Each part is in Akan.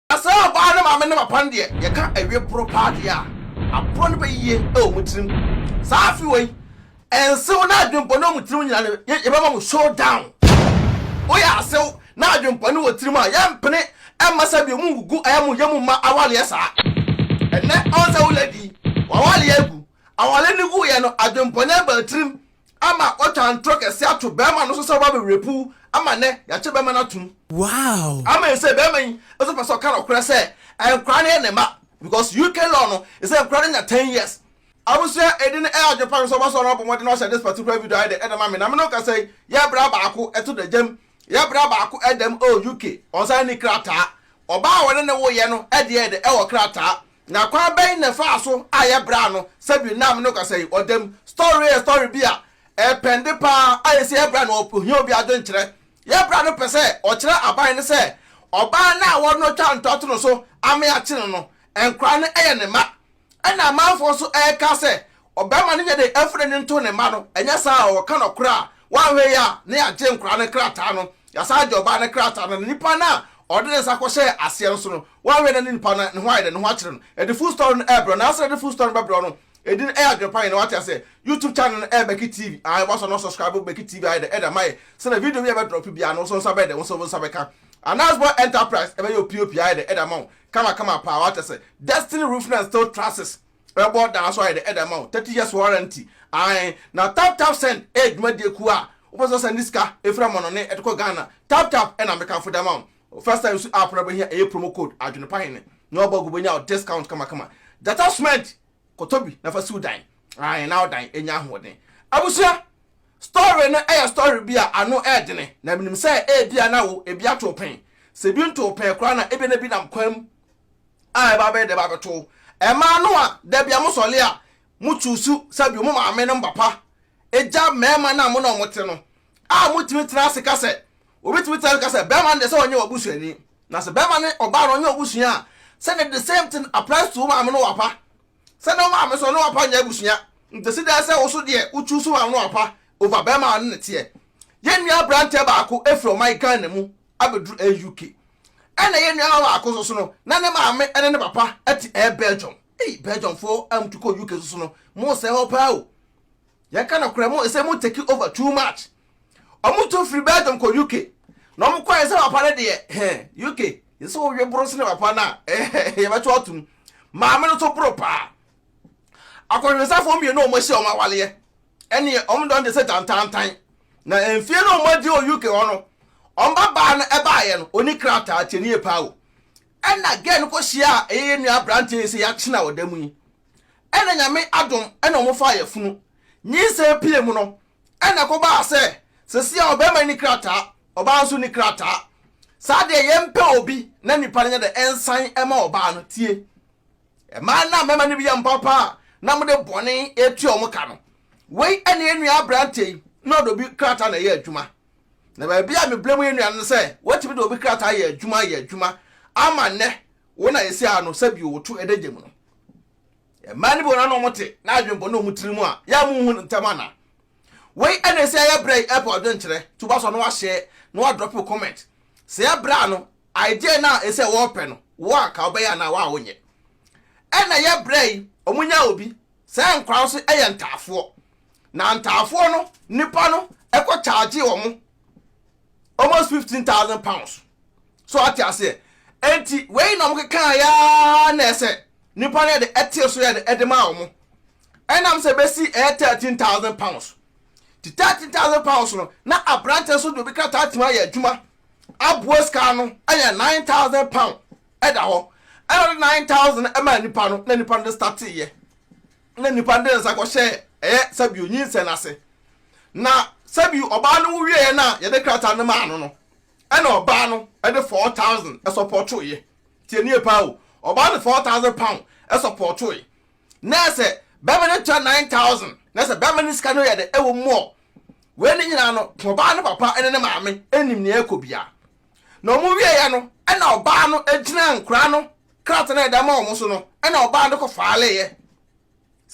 Na sɛ ɔbaa no maame ne papa no deɛ, yɛka awie boro paa deɛ a, aborɔ no bɛyɛ yie wɔ wɔn tirim. Saa afe wei, nsew ne adwempɔne wɔ wɔn tirim nyinaa no, yɛbɛma mo show down. Woyɛ asew na adwempɔne wɔ tirim a, yɛmpene mma sɛ bio, mongugu ɛyɛ mo yɛ mu mma awaleɛ saa. Ɛnnɛ, ɔnsɛ wo lady yi, w'awaleɛ agu. Awaleɛ no guiɛ no, adwempɔne baa tirim. Ama ɔtaa ntorɔ kɛseɛ ato bɛɛma no so sɛ ɔba bɛwerɛ puu ama nnɛ yɛakyɛ bɛɛma no atom. Wow! Amen sɛ bɛɛma yi nso pɛ sɛ ɔka nɔkorɛ sɛ nkwadaa no yɛ ne mma because UK law no sɛ nkwadaa no nya ten years. Abusua ɛdi no ɛyɛ adwene pa me sɛ ɔba so a na wabɔ mmɔden na wahyɛ this particular video ayɛ dɛ de ama me na me ne wo kasa yi yɛ bra baako ɛto da gyam yɛ bra baako ɛdam oh UK ɔnsan nni krataa ɔbaa a wɔne ne wo yɛ no ɛdeɛ yɛ dɛ ɛwɔ krataa Na kwan bɛn na ɛfaa so a ɛyɛ bra no? Sɛbi nam ne ɔkasa yi ɔda mu story yɛ story bi a ɛpɛnde paa a ɛsɛ yɛ bra no ohia obi adwenkyerɛ. Yɛ bra no pɛ sɛ ɔkyerɛ aban no sɛ ɔbaa no a wɔne no atwa ntoa to no so ama yɛakye no no, nkwadaa no yɛ ne mma. Ɛna amanfoɔ nso ɛreka sɛ Ɔbarima no nyɛ den mfa n'ani nto ne mma no, ɛnyɛ saa a, ɔka nokorɛ a, wanhwɛ yie a, na yɛagye nkwadaa no krataa no, yɛasan agye ɔbaa no krataa no, na nipa no a ɔde ne nsa kɔhyɛɛ aseɛ no nso no, wanhwɛ na ne nipa no, ne ho ayɛ dɛ, ne ho akyere no. Ɛde full story no ɛrebrɛ wo, nanso na ɛde full story no bɛbrɛ wo no, edin no ɛyɛ Adwenpa Hene, wate aseɛ? YouTube channel no ɛyɛ Becky TV, aane, wasɔ na subscribe wɔ Becky TV ayɛ dɛ, ɛde ama yɛ, sɛdeɛ video bi a yɛbɛ drop biara no, wo nso wo nsa bɛyɛ dɛ, wo nso wo nsa bɛka. Anas Boy Enterprise ɛbɛyɛ wo POP ayɛ dɛ, ɛde ama wo, kama kama paa, wate aseɛ? Destiny Roofing and Steel Trusses. Ɛbɔ daa so ayɛ dɛ ɛda ma wo thirty years warranty ae na tap tap send ɛyɛ dwumadie kuo a wopɛ sɛ ɔsɛn de sika ɛfiri amɔnɔne ɛde kɔ Ghana tap tap ɛna mekamfo da ma wo first time su app no wobɛhia ɛyɛ promo code adwene pa hene na wabɔ agu wobɛnya wo discount kama kama gyata cement kɔtɔ bi na fa si wo dan ae na wo dan ɛnya ahoɔden abusua story no ɛyɛ story bi a ano ɛɛdene na menim sɛ ɛɛbia na wo ɛbi ato wo pɛn sɛ ɛbi nto wo pɛn koraa na ɛbia na bi nam kwan mu a ɛba abɛyɛ dɛ ba bɛto wo. Mmaa no a da bia mo sɔle a mo tsusu sɛbio mo maame nom bapa egya mɛɛma no a mo ne ɔmo te no a mo tumi tena ase ka sɛ obi tumi tena ase ka sɛ bɛɛma no deɛ sɛ ɔnyɛ wabusuani na sɛ bɛɛma ne ɔbaa no ɔnyɛ wabusua a sɛ ne the same thing applies to wo maame ne wapa sɛ ne wo maame so ne wapa nyɛ abusua nti si dɛɛ sɛ wo so deɛ wo tsusu wo maame ne wapa over bɛɛma a ɔne ne teɛ. Yɛn nua abranteɛ baako efiri ɔman Ghana mu abɛduru ɛyɛ UK. Ɛna yɛn nuawa baako nso so no, na ne maame ne ne papa te ɛyɛ Belgium. Ei, Belgiumfoɔ a motu kɔ UK so so no, mosɛe hɔ paa o. Yɛnka nokorɛ, mo ɛsɛ mo take over too much. Wɔn tu firi Belgium kɔ UK. Na wɔn kɔɛ sɛ papa no deɛ, he, UK, yɛ sɛ wowe boro sene papa no a, yɛbɛto atom. Maame no nso boro paa. Akɔnhwɛsafoɔ mmienu a wɔasi wɔn awaleɛ ɛneɛ wɔn dɔn te sɛ tantantan. Na mfie no wɔn adi wɔ UK hɔ no, wɔn ba baa no ɛbaeɛ no, ɔni krataa, tie nie paa o. Ɛna girl no kɔhyiaa ɛyɛ yɛn nua aberanteɛ yi sɛ yɛakyena wɔ da mu yi. Ɛna Nyame adom ɛna wɔn faa yafunu. Nyinsɛn pie mu no, ɛna ɛkɔbaa sɛ sesie a ɔbarima yi ni krataa, ɔbaa nso ni krataa. Saa deɛ yɛmpɛ obi na nipa no nyɛ dɛ ɛnsan ɛma ɔbaa no, tie. Mmaa na mmarima no bi yɛ mpaapa a na wɔde bɔne retua wɔn ka no. Wei ne yɛn nua aberanteɛ yi na ɔde obi krataa na ɛyɛ adwuma. Na baabi a meblame yɛn nua no ne sɛ watumi de obi krataa ayɛ adwuma ayɛ adwuma ama nnɛ wo na yɛsi ara no sɛ bio woto adagya mu no. Mmaa no bi wɔ no na wɔte na adwene bɔne wɔn tiri mu a yɛ a monhu no ntɛm anaa? Wei na ɛsi ayɛ berɛ yi ɛpɛ ɔdwenkyerɛ to ba so a na wahyɛ na wadrɔpe comment sɛ yɛbrɛ ano Adeɛ no a ɛsɛ wɔpɛ no wo anka wobɛyɛ anaa wo a wonyɛ. Ɛna yɛ brɛ yi ɔmo nya obi saa nkwadaa no so yɛ ntaafoɔ na ntaafoɔ no nipa no ɛkɔ charge ɔmo almost fifteen thousand pounds so ate aseɛ enti wei na ɔmo kekaa yaa na ɛsɛ nipa no yɛde ɛte so yɛde ɛde ma ɔmo ɛnam sɛ bɛsi ɛyɛ thirteen thousand pounds ti thirteen thousand pounds no na aberante nso de obi krataa tumi ayɛ adwuma aboa sika ano yɛ nine thousand pound ɛda hɔ ɛna ɔde nine thousand ɛma nipa no na nipa no de startee yɛ na nipa no de nsa kɔhyɛ ɛyɛ sɛbi onyinsɛn n'ase na sɛbi ɔbaa no wuwie yɛ na yɛde krataa no maa no no ɛna ɔbaa no ɛde four thousand ɛsɔpɔtoo yɛ tie nie paa o ɔbaa de four thousand pound ɛsɔpɔtoo yɛ na sɛ bɛma no tɔ nine thousand na sɛ bɛma no sika no yɛ dɛ ɛwɔ mu ɔ wei ne nyinaa no ɔbaa no papa ne ne maame nim nea ɛkɔ bia na ɔmo wie yɛ no ɛna ɔbaa no gyina nkora no krata no ɛda ma ɔmo so no ɛna ɔbaa no kɔ faale yɛ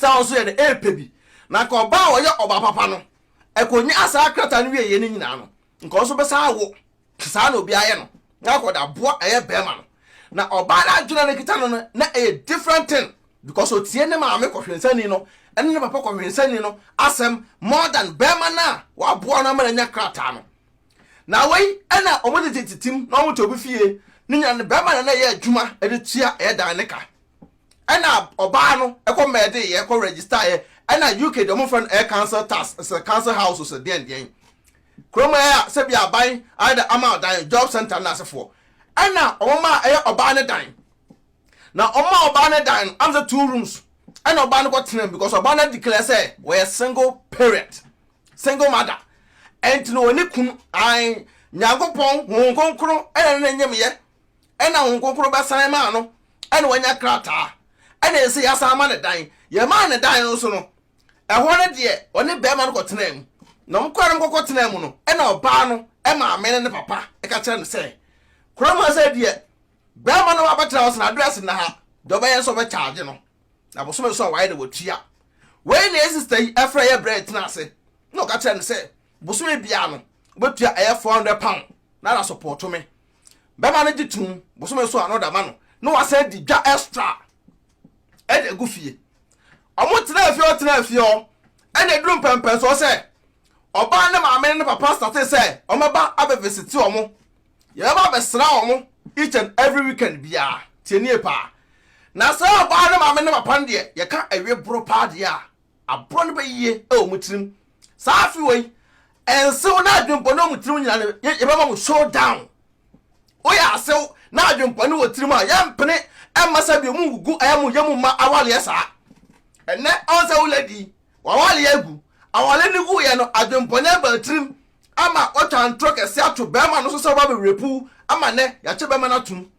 sɛ ɔnso yɛ dɛ ɛpɛ bi na nka ɔbaa ɔyɛ ɔbaa papa no ɛkɔ nya asaa krata no wie yɛ ne nyinaa no nka ɔno nso bɛsan awo te saa na obiara yɛ no na akɔ de aboa ɛyɛ bɛrima no na ɔbaa no adwene a na kita no no na ɛyɛ different thing because otie ne maame kɔhwensani no ɛne ne papa kɔhwensani no asɛm more than bɛrima no a waboa no ama no anya krataa no na wei ɛna wɔn tete titim na wɔn te obi fie ne nyina no bɛrima na na ɛyɛ adwuma de tua ɛyɛ dan ne ka Ɛna ɔbaa no kɔ mɛdee yɛ kɔ register yɛ ɛna UK deɛ ɔmo frɛ no air council tax sɛ council house sɛ deɛn deɛn kurom ɛyɛ a sɛ bi aban ayɛ dɛ ama ɔdan job center no asefoɔ ɛna ɔmo maa ɛyɛ ɔbaa ne dan na ɔmo maa ɔbaa ne dan no am sɛ two rooms ɛna ɔbaa no kɔ tena mu because ɔbaa no declare sɛ wɔyɛ single parent single mother ɛnti no wɔne kunu ae nyankopɔn honhom kronkron ɛna ne ne nyemyɛ ɛna Honhom Kronkron bɛsan maa no ɛna wanya krataa ɛna ɛsɛ sɛ yɛasan ma no dan. Yɛmaa no dan no so no, ɛhɔ no deɛ ɔne barima no kɔtenaa mu. Na wɔn kɔɛ na wɔn kɔkɔ tenaa mu no, ɛna ɔbaa no maame ne ne papa ɛka kyerɛ no sɛ, Kuro mu ha sɛ deɛ barima no abɛtena hɔ sɛ n'address nna ha, deɛ ɔbɛyɛ nso ɔbɛ charge no. Na bosome nso a wayɛ na watua. Wei na yɛ sister yi ɛfrɛ yɛ brɛ tena ase na ɔka kyerɛ no sɛ bosome biara no wobɛtua ɛyɛ 400 pound na na support me. bɛma no gye tom bosome so a na ɔde ama no na wasan di dwa extra ɛde agu fie ɔmo tena afie ɔtena afie ɔ ɛna eduru mpɛmpɛn so ɔsɛ ɔbaa ne maame ne ne papa sate sɛ ɔmɛba abɛvisiti ɔmo yɛbɛba abɛsra ɔmo each and every weekend biara tie nie paa na sɛ ɔbaa ne maame ne papa no deɛ yɛka awie boro paa deɛ a aborɔ no bɛyie wɔ mo tirim saa afe wei nsew na adwempɔne wɔ mo tirim nyinaa no yɛbɛma mo show down woyɛ asew na adwempɔne wɔ tirim a yɛmpene ɛmma sɛ bio mu wugu ɛyɛ mo yɛ mu ma awaleɛ saa ɛnɛ ɔn sɛ wo lady wawaleɛ agu awale no guiɛ no adwempɔne aba tirim ama watwa ntorɔ kɛse ato bɛrima no so sɛ woba bɛwerɛpuw ama nɛ yɛakyɛ bɛrima no atom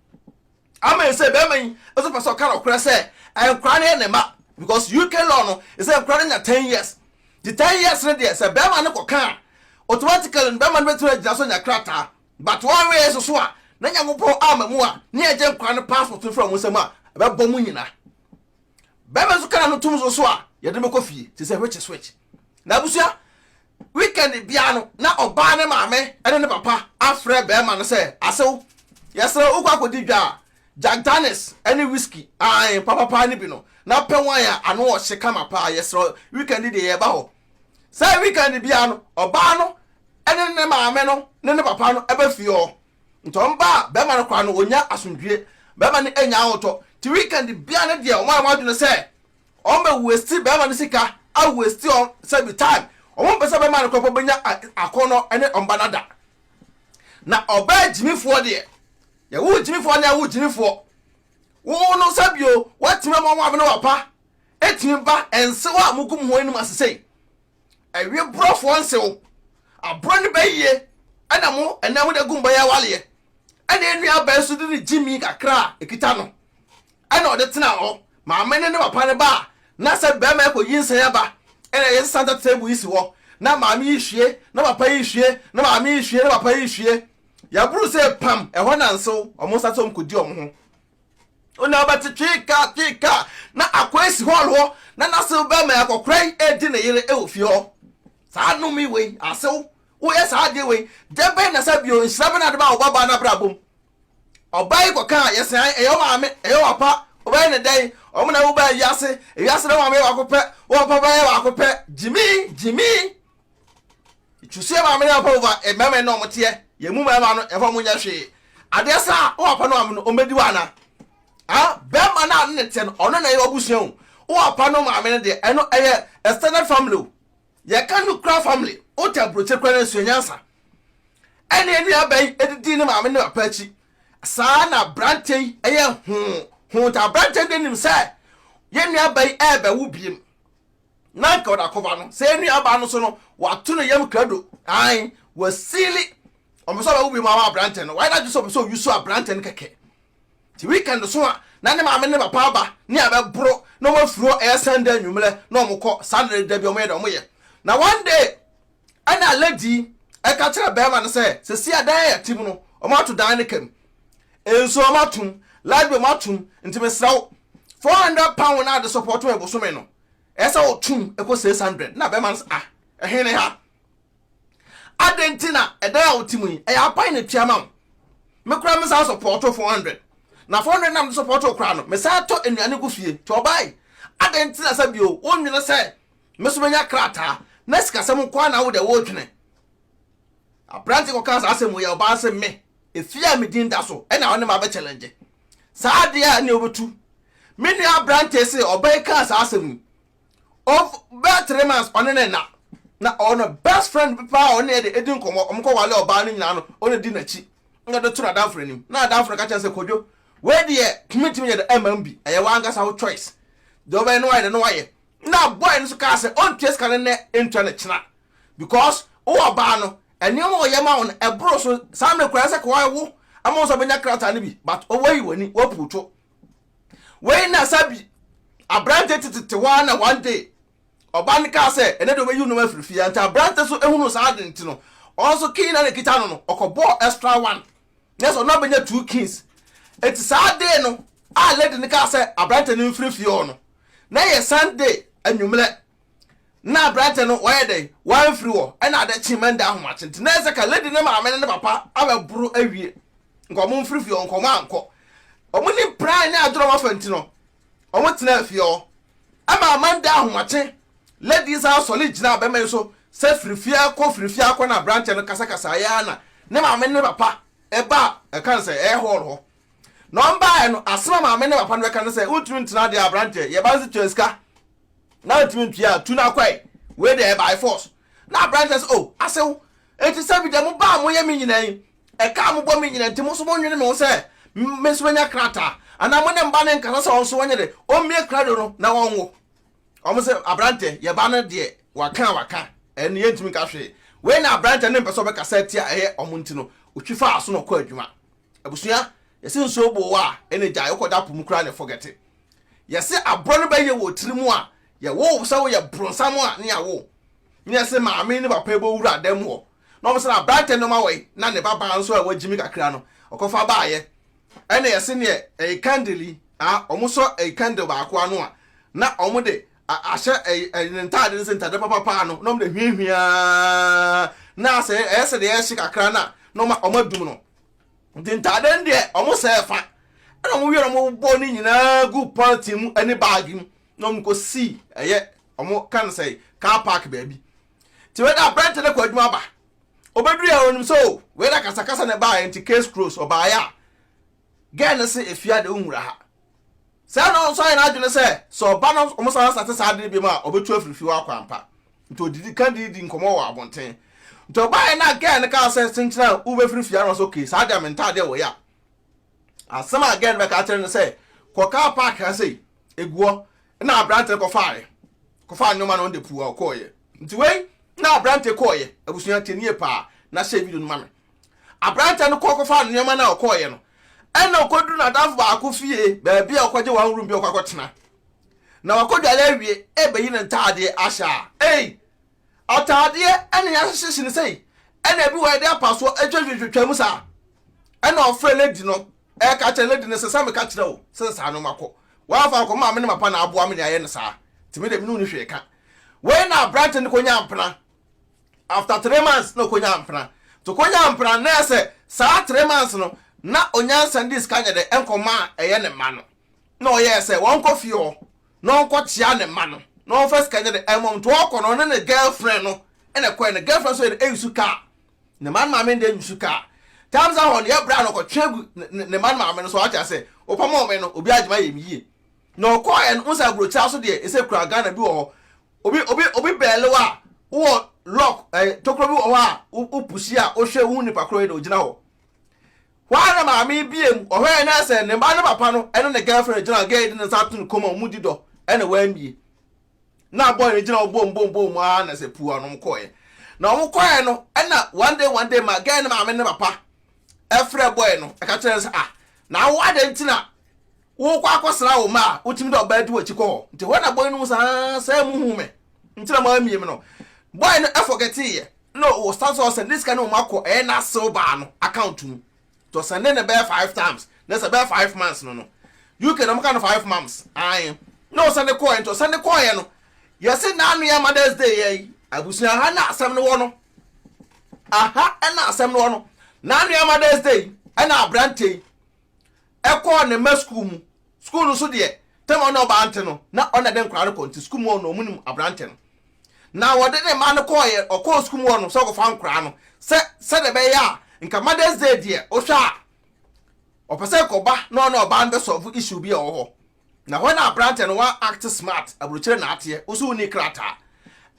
Amen sɛ bɛɛma yi nso pɛsɛ ɔka nɔkorɛ sɛ nkora no yɛ ne ma because UK law no sɛ nkora no nya ten years nti ten years no deɛ sɛ bɛɛma no kɔka a automatically no bɛɛma no bɛtumi agyina so anya krataa but wɔanwɛ yɛ soso a na Nyankopɔn ama mu a ne yɛgye nkora no passport no firi ɔmo nsam a ɛbɛbɔ mo nyina bɛɛma nso kana no tom soso a yɛde no bɛkɔ fie te sɛ which is which na abusua Weekend biara no, na ɔbaa no maame ne ne papa afrɛ barima no sɛ, Asew, yɛsrɛ wo, wokɔ akodi dwa a, Jack Daniels ne whiskey, aane, papapaa no bi no, na pɛ wine a ano wɔ hye kama paa, yɛsrɛ wo, weekend yi deɛ yɛba hɔ. Saa weekend biara no, ɔbaa no ne ne maame no ne ne papa no ba fie hɔ. Nti wɔba a, barima no koraa no, ɔnya asomdwoeɛ. Barima no nya ahotɔ. Nti weekend biara no deɛ, wɔayɛ wɔn adwene sɛ Ɔmo bɛ wasti bɛɛma no sika a wasti ɔn sɛbi time ɔmo mpɛ sɛ bɛɛma no kɔ pɔ bɛnya akɔnɔ ɛne ɔmba no ada na ɔbɛɛ gyimifoɔ deɛ yɛ wo gyimifoɔ anaa wo gyimifoɔ wo no sɛbio watimi ama ɔmo abene wapa ɛtimi ba ɛnsew a mogu moho anim asesei ɛwe borɔfoɔ nsew aborɔ no bɛyie ɛna mo ɛnɛ mo de gu mba yɛ awaleɛ ɛna ɛnua bɛɛ so de ne gyimi kakra a ɛkita no Ɛna ɔde tenaa hɔ. Maame no ne papa no ba a, na sɛ barima rekɔ nyinsɛn aba na yɛsesa center table yi si hɔ, na maame yi rehwie, na papa yi rehwie, na maame yi rehwie, na papa yi rehwie. Yɛboro sei pam, ɛhɔ na nsew, wɔn nsa sɛ wɔkɔdi wɔn ho. Ɔna wobɛte twee ka, twee ka, na akwae si hɔl hɔ, na n'asew barima yɛ akɔkoraa yi redi ne yere wɔ fie hɔ. Saa nnome wei, asew, woyɛ saa adeɛ wei, dɛn bɛn na sa bio, nhyira bɛn na wode ba wo babaa no abrabɔ mu? Ɔbaa yi kɔkaa, yɛ sɛn, ɛyɛ wo maame, ɛyɛ wo papa, wobɛyɛ no dɛn, wɔn na wobaa wiase, wiase no wo maame yɛ baako pɛ, wo papa bɛyɛ baako pɛ, gyimi, gyimi. Twusuɛ maame ne papa wova, mmarima yi na wɔn teɛ, yɛn mu mmarima no, yɛfa wɔn nyɛ hwee. Adeɛ saa, wo papa ne maame no, wɔn bɛdi wo ana? Ha, bɛrima no a ne ne teɛ no, ɔno na ɛyɛ w'abusua o. Wo papa ne wo maame no deɛ, ɛno ɛyɛ extended family o. Yɛ ka no kura family wo tɛ aburokye kura na sua nyansa ɛne anua bɛyi ɛdidi ne maame ne papa akyi saa na abrante yi ɛyɛ hoo hoo ta abrante de nim sɛ yɛ nua bɛyi ɛbɛ wo biem na nka ɔda kɔba no sɛ anua ba no so no wato no yam krado ae wasili ɔmɛ sɛ ɔbɛ wo biem ama abrante no wayɛ na adwene sɛ ɔpɛ sɛ ɔyusu abrante no kɛkɛ Nti weekend so a na ne maame ne ne papa aba ne a bɛboro na ɔmo afiri hɔ ɛyɛ Sunday anwummerɛ na ɔmo kɔ Saturday dabi ɔmo yɛ deɛ ɔmo yɛ na one day ɛna lady yi ɛka kyerɛ bɛɛma no sɛ sesei a dan a yɛte mu no ɔmo ato dan no kam nsuo ɔmo atom light bill ɔmo atom nti mesrɛ wo four hundred pound na ade support me bosome no ɛsɛ otum ɛkɔ six hundred na bɛɛma no sɛ ah ɛhe ne ha. adɛn nti na ɛdan a wote mu yi ɛyɛ aban na tua ma wo me koraa me san sɔpɔɔto 400 na 400 na mede sɔpɔɔto koraa no me san tɔ nnuane gu fie nti ɔbae adɛn nti na sɛ bio wonwene sɛ me so menya krataa na sikasɛm nko ara na wo deɛ wodwene aberante kɔka saa asɛm wei a ɔbaa se me efie a me din da so ɛna ɔne ma bɛ challenge saa adeɛ a ɛne wobɛtu me nua aberante se ɔbaa yi kaa saa asɛm yi of bɛyɛ three months ɔne ne nna na ɔno best friend bi paa ɔne ɛde edi nkɔmɔ ɔmo kɔ wale ɔbaa no nyinaa no ɔne di n'akyi na ɔde to n'adamfo n'anim na adamfo no ka kyɛn sɛ kodwo wei deɛ tumi ntumi nyɛ dɛ ɛma bi ɛyɛ wankasa wo choice deɛ ɔbɛyɛ no wayɛ dɛ no wayɛ na boy no nso kaa sɛ ɔntua sika no nnɛ ntua no kyena because wowɔ ɔbaa no nneɛma a ɔyɛ ma wo no ɛboro so saa mmerɛ kura sɛ kɔwae wo ama wo nso ɔbɛnya krataa no bi but ɔwayi w'ani wapuutwo Wei na sɛ bi aberante tetete hɔ ara na one day ɔba no kaa sɛ ɛnɛ de ɔbɛyi nneɛma afiri fie a nti aberante so ehunu saa ade nti no ɔno so key na na ekita no no ɔkɔbɔɔ extra one na sɛ ɔno abɛnya two keys eti saa day no a lady no kaa sɛ aberante no mfiri fie hɔ no na yɛ sunday anwummerɛ na aberantɛ no wayɛ dɛn wamfiri hɔ ɛna ade kye mɛnda ahomakye nti na ɛsɛ ka lady ne maame ne ne papa abɛboro awie nka ɔmo mfiri fie hɔ nka ɔmo ankɔ ɔmo ne pran ne adorɔ afa nti no ɔmo tena fie hɔ ɛma amanda ahomakye lady san sɔle gyina bɛma yi so sɛ firi fie akɔ firi fie akɔ na aberantɛ no kasakasa yɛ na ne maame ne papa ɛba ɛka sɛ ɛyɛ hɔl hɔ Na wɔbaeɛ no, asɛm a maame ne papa no bɛka ne sɛ, Wontumi ntena deɛ aberanteɛ, yɛn ba no nso tua sika, na wontumi ntua a, tu no akɔe. Wei deɛ ɛyɛ by force. Na aberanteɛ sɛ, O, asew, enti sɛ bi deɛ mobaa a moyɛ me nyinaa yi, ɛka a mobɔ me nyinaa nti, mo nso monnwene me ho sɛ me nso mɛnya krataa? Anaa mo ne mma no nkasa sɛ wɔn nso wɔnyɛ dɛ, wɔmmue krado no na wɔnwo? Wɔn se, Aberanteɛ, yɛn ba no deɛ, waka a waka, ɛno no yɛntumi nka hwee. Wei na aberanteɛ no mpɛ sɛ ɔbɛkasa atia a ɛyɛ wɔn nti no, ɔtwi faa aso na ɔkɔɔ adwuma. Abusua yɛse nsuo boo wo a ɛna gyae wokɔ da po mu koraa na ɛ forget it yɛse aborɔ no bɛyɛ wɔ tiri mu a yɛ woo wo sɛ wo yɛ bronsam a ne yɛ woo ne yɛse maame ne papa bɛ wura da mu hɔ na ɔmo se na abrantɛ no ɔmo awɔ yi na ne ba baa nso a wa gyimi kakra no ɔkɔ fa baa yɛ ɛna yɛse ne ɛyi candle yi a ɔmo sɔ ɛyi candle baako ano a na ɔmo de a ahyɛ ɛyi ne ntaade no se ntaade papa paa no na ɔmo de hwiahwiaa na asɛ ɛyɛ sɛ deɛ ɛhye kakra na na ɔmo adum no. nti ntaade no deɛ wɔn sɛɛ fa ɛna wɔn wiɛ na wɔn bɔ ne nyinaa gu pɔlitin mu ɛne baagi mu na wɔn kɔ si ɛyɛ wɔn kan sɛ car park baabi ti wei na abirante no kɔ adwuma ba obeduru yɛ onim sɛ o wei na kasakasa na ɛbaa yɛ nti case close ɔbaa yɛ a gɛɛ no se efia de ohun wura ha. Saa na nso ayɛ n'adwene sɛ sɛ ɔba na wɔsan asa te saa ade no biom a, ɔbɛtu afiri fie hɔ akɔ ampa. Nti ɔdidi kan didi nkɔmmɔ wɔ abɔnten. Nti ɔbaeɛ na gɛɛ no kaa sɛ kyenkyena a wobɛfiri fie ano sɛ okay saa deɛ mentaadeɛ a wɔyɛ a. Asɛm a gɛɛ no bɛka akyerɛ no sɛ kɔ kaa park ha sei, egu hɔ. Na aberante no kɔfaaeɛ. Kɔfaa nneɛma no ɔde puu a ɔkɔeɛ. Nti wei na aberante kɔeɛ. Abusua tie nie paa na hyɛ video no ma me. Aberanteɛ no kɔɔ kɔfaa nnoɔma no a ɔkɔeɛ no ɛna ɔkɔduru n'adamfo baako fie baabi a ɔkɔgye one room bi a ɔkɔ akɔtena na wakɔdware awie ɛbɛyi ne ntaadeɛ ahyɛ a ei ataadeɛ ɛna yɛahyehyɛ hyɛ no sei ɛna ebi wɔ yɛde apasoɔ atwatwatwatwa mu saa ɛna ɔfrɛ lady no ɛka kyerɛ lady no sɛ sɛ meka kyerɛ wo sɛ saa no makɔ wɔamfa akɔ maame ne mapa na aboa me ne ayɛ no saa tìmí deɛ me ne wo ne hwee ka wei na aberante no kɔnya mpena after three months na okonyaa mpena nti okonyaa mpena no na yɛ sɛ saa three months no na onyansa de sika nyɛ dɛ nkɔma a ɛyɛ ne mma no na ɔyɛɛ sɛ wɔnkɔ fie hɔ na ɔnkɔkyea ne mma no na ɔmfa sika nyɛ dɛ ɛmmɔ wɔn nti ɔkɔ no ɔne ne girlfriend no ɛna ɛkɔɛ no girlfriend nso yɛ dɛ ɛnsu kaa ne mma no maame no dɛ nsu kaa times ahɔ no yɛ bra no ɔkɔtwe agu ne mma no maame no so ɔate ase wopam wɔn no obi agyema yɛ me yie na ɔkɔɛ no nsa aburokyira so deɛ ɛsɛ kura Ghana bi wɔ hɔ obi obi obi bɛɛle wo a wowɔ lock ɛɛ eh, tokuro bi wɔ hɔ a wopusi a wohwɛ wohu nipa koro yi na ogyina hɔ wɔn na maame bie mu ɔhwɛ yɛn na sɛ ne ba ne papa no ɛne ne girlfriend gyina gɛɛ de ne nsa ato ne kɔn mu a wɔn di dɔ ɛna wɔamie na boy no gyina hɔ bom bom bom a na sɛ puu a wɔn kɔɛ na wɔn kɔɛ no ɛna one day one day ma gɛɛ ne maame ne papa ɛfrɛ boy no ɛka kyerɛ no sɛ ah na awo adan ti na Worekɔ akɔsra wo mma a, wotumi de ɔbaa di w'akyi kɔ hɔ. Nti hɔ na boy no hu sɛ haa sɛ muhuu me nti na moamie me no. Boy no forgeteeɛ na ɔsan sɛ ɔsɛnde sika no mmom akɔ ɛyɛ n'asew baa no account mu. Nti ɔsɛnde no bɛyɛ five times na sɛ ɛbɛyɛ five months no no. UK no wɔka no five months ae na ɔsɛnde kɔeɛ nti ɔsɛnde kɔeɛ no yɛse na ano yɛ mother's day yɛ yi. Abusua aha na asɛm no wɔ no. Aha na asɛm no wɔ no. Na ano yɛ mother's day ɛna aberanteɛ yi kɔɔ ne mma sukuu mu. Sukuu no nso deɛ, tam a ɔne ɔbaa nte no, na ɔna de nkwadaa no kɔ nti sukuu mu hɔ no wɔnim aberante no. Na wɔde ne mma no kɔeɛ, ɔkɔɔ sukuu mu hɔ no sɛ ɔkɔfa nkwadaa no sɛ sɛdeɛ ɛbɛyɛ a nka Mother's Day deɛ wohwɛ a ɔpɛ sɛ kɔba na ɔne ɔbaa no bɛsɔlve issue bi a ɛwɔ hɔ. Na hɔ na aberante no wa act smart, aburokyire na ateɛ, wo nso wonni krataa.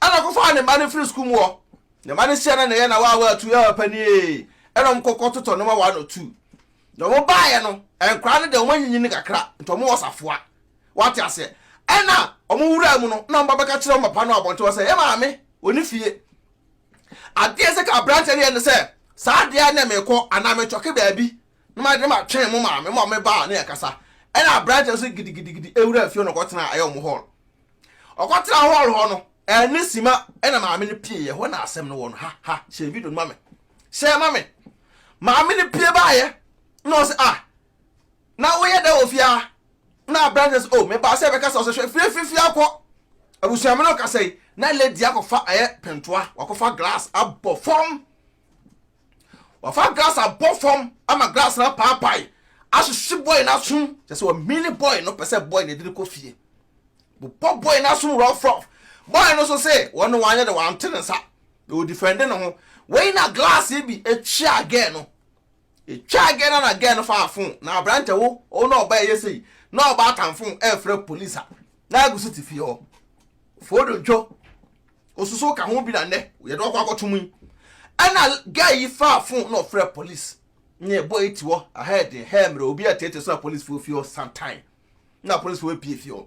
Ɛna ɔkɔfaa ne mma no firi sukuu mu hɔ. Ne mma no hyia na na ɛyɛ na waa waa tu, ɛɛ papa nie, ɛna wɔkɔkɔ totɔ nneɛma one or two. Na wɔn baeɛ no, nkwadaa no deɛ wɔn anyinyin kakra, nti wɔn wɔ safoa. Wate aseɛ? Ɛna wɔn wuraa mu no, na wɔn ba bɛka kyerɛ wɔn papa no abɔnten hɔ sɛ, Yɛn maame, ɔni fie. Adeɛ ɛsɛ ka abranteɛ no yɛ ne sɛ, saa adeɛ a na mekɔ anaa metwɔke baabi, na ma de ma twɛn mo maame ma me baa na yɛ kasa. Ɛna abranteɛ no so gidigidigidi ɛwura fie hɔ na ɔkɔtena ɛyɛ wɔn hall. Ɔkɔtena hall hɔ no, ɛne sima ɛna maame no pieɛ, hɔ na asɛm no wɔ no, ha ha, hyɛ video no ma me. hyɛɛ ma me. Maame no pue baeɛ na ɔse ah na woyɛ dɛ wɔ fie ha? Na aberanteɛ sɛ oh mebaa sɛ bɛkasa ɔsɛ hwɛ fie fifie akɔ abusua me no kasa yi na lady akɔfa ɛyɛ pentoa wakɔfa glass abɔ fam wafa glass abɔ fam ama glass na paapae ahyehye boy no asom kyɛ sɛ ɔmini boy no pɛ sɛ boy no ɛdini kɔ fie bobɔ boy no asom rough rough boy no so sɛ wɔne wanyɛ de wante ne nsa na ɔdifɛnde ne ho wei na glass bi twea girl no ɛtwaa girl no na girl no faa phone na aberantɛ wo wo na ɔba ɛyɛ sei na ɔba atan phone ɛfrɛ police a na agu so te fie hɔ foodo ntwo osusu ka ho bi na nnɛ yɛde ɔkɔ akɔtom yi ɛna girl yi faa phone na ɔfrɛ police na ɛbɔ ɛti hɔ ahead ɛhɛ mmerɛ obi a tete so na police fo fie hɔ sometime na police fo pie fie hɔ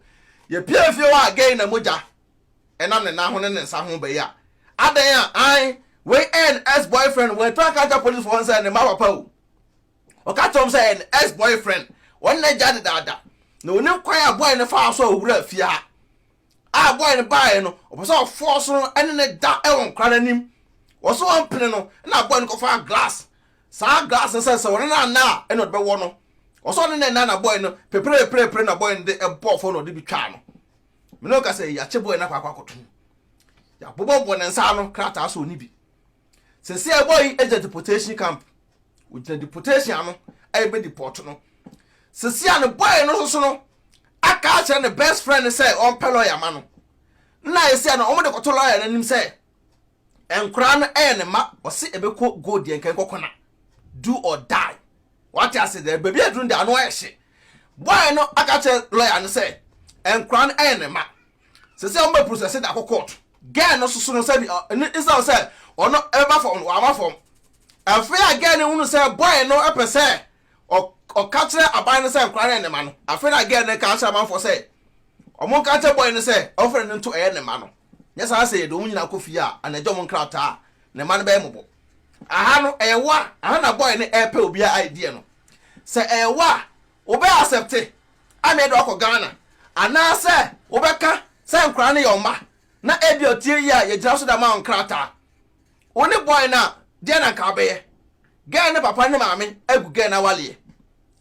yɛ pie fie hɔ a girl na mogya ɛnam ne nan ho ne ne nsa ho bɛyɛ a, adɛn a ae wei ɛyɛ ne ex boyfriend wɔatu anka akyerɛ policefoɔ hɔ sɛ ne mma papa o ɔka kyerɛ wɔn sɛ ɛyɛ ne ex boyfriend wɔn na agya dedaada na onim kwan a bɔɔl no faa so a owura fie ha a bɔɔl no baeɛ no ɔpɛ sɛ ɔfoɔ so no ɛne ne da ɛwɔ nkora no anim wɔn so wɔn pene no ɛna bɔɔl no kɔfa glass saa glass no sɛ sɛ wɔn na ana a ɛna ɔde bɛwɔ no wɔsɔ ne nɛ na na bɔɔl no pepereperepere na bɔɔl no de ɛbɔɔ fɔ na ɔde bi twaa no me ne ɔka sɛ yɛakye bɔɔl no akɔ akɔ akɔto yɛabobɔ bɔ ne nsa ano krataa so ɔne bi sɛsɛ ɛbɔ yi agya deportation camp ogyina deportation ano a yɛbɛ deport no sɛsɛ a ne bɔɔl no soso no aka akyerɛ ne best friend sɛ ɔmpɛ lɔya ma no na ayɛ sɛ no ɔmo de kɔto lɔya no anim sɛ Nkora no yɛ ne mma ɔse ɛbɛkɔ gold deɛ nka nkɔ kɔna do or die wate ase dɛ baabi aduru no deɛ ano ayɛ hye boy no aka kyerɛ lawyer no sɛ nkora no yɛ ne mma sɛ sɛ ɔmbɛ process de akɔ court girl no soso no sɛ bi ɛno isa sɛ ɔno ɛbɛba fam no waba fam afei a girl no hunu sɛ boy no ɛpɛ sɛ ɔka kyerɛ aban no sɛ nkora no yɛ ne mma no afei na girl no ka kyerɛ amanfoɔ sɛ ɔmo nka kyerɛ boy no sɛ ɔmfrɛ no nto ɛyɛ ne mma no Nyɛ saa sɛ yɛde wɔn nyinaa kɔ fie a, anagye wɔn nkrataa a, ne mma no bɛyɛ mmɔbɔ. Aha no, ɛyɛ wo a, aha na boy no ɛrepɛ obiara a idea no. Sɛ ɛyɛ wo a, wobɛ accepte ama yɛde wo akɔ Ghana, anaasɛ wobɛka sɛ nkwadaa no yɛ wo mma, na ebia otie yie a yɛgyina so de ama wo nkrataa. Wo ne boy no a, deɛn na anka wobɛyɛ? Girl no papa ne maame agu girl no awaleɛ.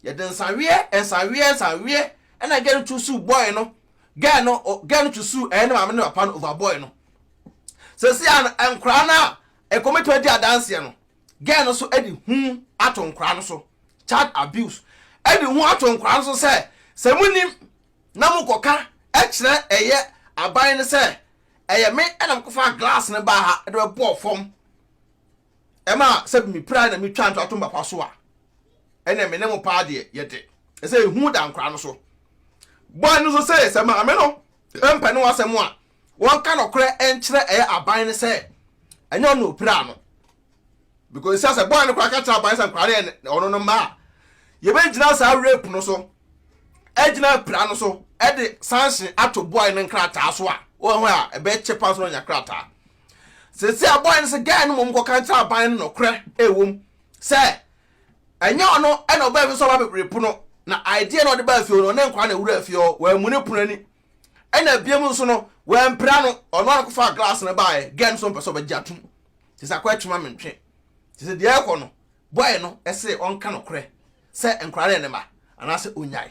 Yɛde nsaweɛ, nsaweɛ, nsaweɛ na girl no tu suu boy no girl no girl no to sue ɛyɛ ne maame ne papa no over boy no sɛsi a nkwaraa no a ɛkɔmɛtɔ adi adanseɛ no girl no so ɛde hu ato nkwaraa no so child abuse ɛde hu ato nkwaraa no so sɛ sɛ mo nim na mo kɔka ɛkyerɛ ɛyɛ aban no sɛ ɛyɛ me ɛna mo kɔfa glass no baa ha ɛde bɛbɔɔ fam ɛma sɛ mepira na metwa nto ato mbapa so a, ɛnna me ne mo paa deɛ yɛde. Ɛsɛ ehu da nkora no so. Boy no nso see sɛ maame no mpɛ ne ho asɛm a, wɔnka nɔkorɛ nkyerɛ ɛyɛ aban no sɛ ɛnyɛ ɔno na opiraa no. Because sɛ sɛ boy no koraa ka kyerɛ aban sɛ nkora no yɛ ɔno no mma a, yɛbɛgyina saa rape no so agyina apira no so de sanction ato boy no nkrataa so a wɔn a ɛbɛkyɛ paa so na ɔnya krataa. Seesei abɔe no sɛ guy no mmom kɔka nkyerɛ aban no nɔkorɛ a ɛwɔ mu sɛ ɛnyɛ ɔno na ɔbaa fie sɛ ɔba bɛbiri pono na idea na ɔde baa fie hɔ no ɔne nkwadaa na ɛwuraa fie hɔ, wammu ne pono ani ɛna biam nso no wampira no, ɔno ara na ɔkɔfaa glass no baeɛ, guy no nso mpɛ sɛ ɔbɛgye atom. Seesei akɔ atwi ma mentwe. Seesei deɛ ɛrekɔ no, boy no se ɔnka nɔkorɛ sɛ nkwadaa no yɛ ne mma anaasɛ ɔnyae.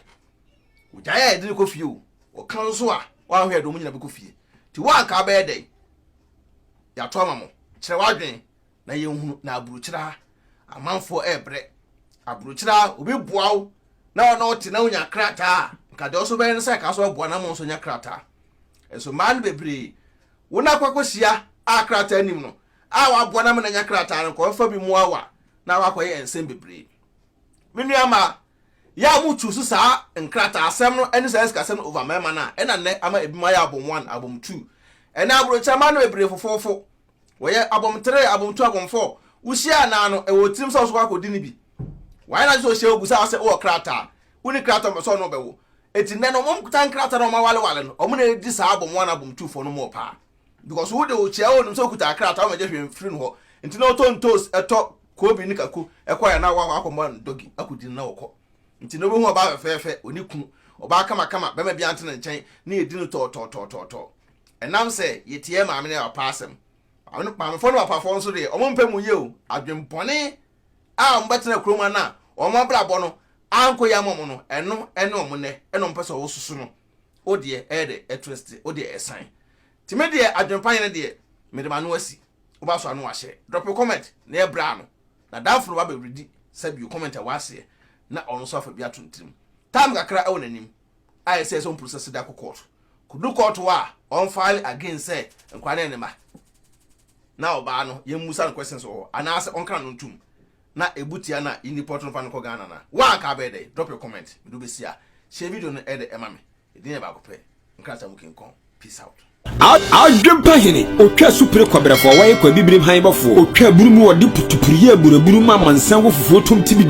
Ogyae a yɛde no kɔ fie o, ɔka nso a wanhwɛ de wɔn nyinaa bɛkɔ fie. Nti wo a anka wobɛyɛ dɛn? Yɛato ama mo. Kyerɛ w'adwene na yɛnhunu na aburokyire ha amanfoɔ rebrɛ. Aburokyire ha obi boa wo na wo na wote na wonya krataa a, anka deɛ ɔso bɛyɛ ne sɛ ɛka so aboa na mo nso nya krataa. Nso mmaa no bebree wo na akɔ akɔhyia a krataa nim no a waboa na mo na nya krataa no nkɔmfa bi mmoa wo a na wakɔyɛ nsɛm bebree. Me nua mmaa, Yɛ a mo choose saa nkrataa asɛm no ɛne saa sikasɛm no over mɛɛma no a ɛna nnɛ ama ebinom ayɛ abom one, abom two. Ɛnɛ abrokyire mmaa no bebree fofoofo. Wɔyɛ abom three, abom two, abom four. Wo hyia anaa no ɛwɔ wo tirim sɛ wo nso kɔ akɔ di no bi. Wayɛ n'adwene sɛ ohyia wo busa wo sɛ wowɔ krataa. Wo ni krataa a ɔmpɛ sɛ ɔne wo bɛwo. Enti nnɛ no wɔn tan krataa na wɔn awalewale no wɔn na edi saa abom one, abom two foɔ no mu wɔ paa. because wo de okyia wo nim sɛ okuta akrataa wɔn agye hwee mfiri no hɔ nti na ɔtɔ ntoos ɛtɔ koobi ne kako ɛkɔ yɛ na wakɔ akɔmɔ dɔgi akɔdi na ɔkɔ nti na obehu ɔbaa fɛfɛɛfɛ oni ku ɔbaa kamakama bɛma bi ante ne nkyɛn ne yɛdi no tɔɔtɔɔtɔɔtɔɔ ɛnam sɛ yɛtiɛ maame ne papa asɛm maamefoɔ ne papafoɔ nso deɛ wɔn mpɛ mu yie o adwembɔne a wɔn bɛtena kurom ana wɔn abrabɔ no ankɔ yɛ ama wɔn no ɛno ɛne wɔn nnɛ ɛna wɔn pɛ sɛ wɔsoso no wo deɛ ɛyɛ dɛ ɛtwiste wo deɛ ɛsan nti me deɛ adwempa yɛ no deɛ mede m'ano asi wo ba so ano wahyɛ drop comment na yɛ bra ano na damfo no wa bɛ redi sa bio comment a waseɛ na ɔno nso afa bi ato ntirim time kakra ɛwɔ n'anim ayɛ sɛ ɛsɛ ɔmpuru sɛ sida kɔ court kodu court wa ɔn file again sɛ nkwa ne ne ma na ɔbaa no yɛn musa no questions wɔ hɔ anaasɛ ɔnkra no ntum na ebu tia na yɛnni pɔtɔ mfa no nkɔ Ghana no a, wo a anka wobɛyɛ dɛn? Drop a comment, mede wo bɛsi a, share video no de ma me. Edin yɛ baako pɛ, nkrataa mu kinkɔn. Peace out. Adwempa hene, otwa asupere kɔbrɛfo, ɔwɔ yɛ kɔ abibirim han bɔfo, otwa aburu mu, ɔde putupuru yɛ aburaburu ma amansan wɔ fufuo tom tibidi.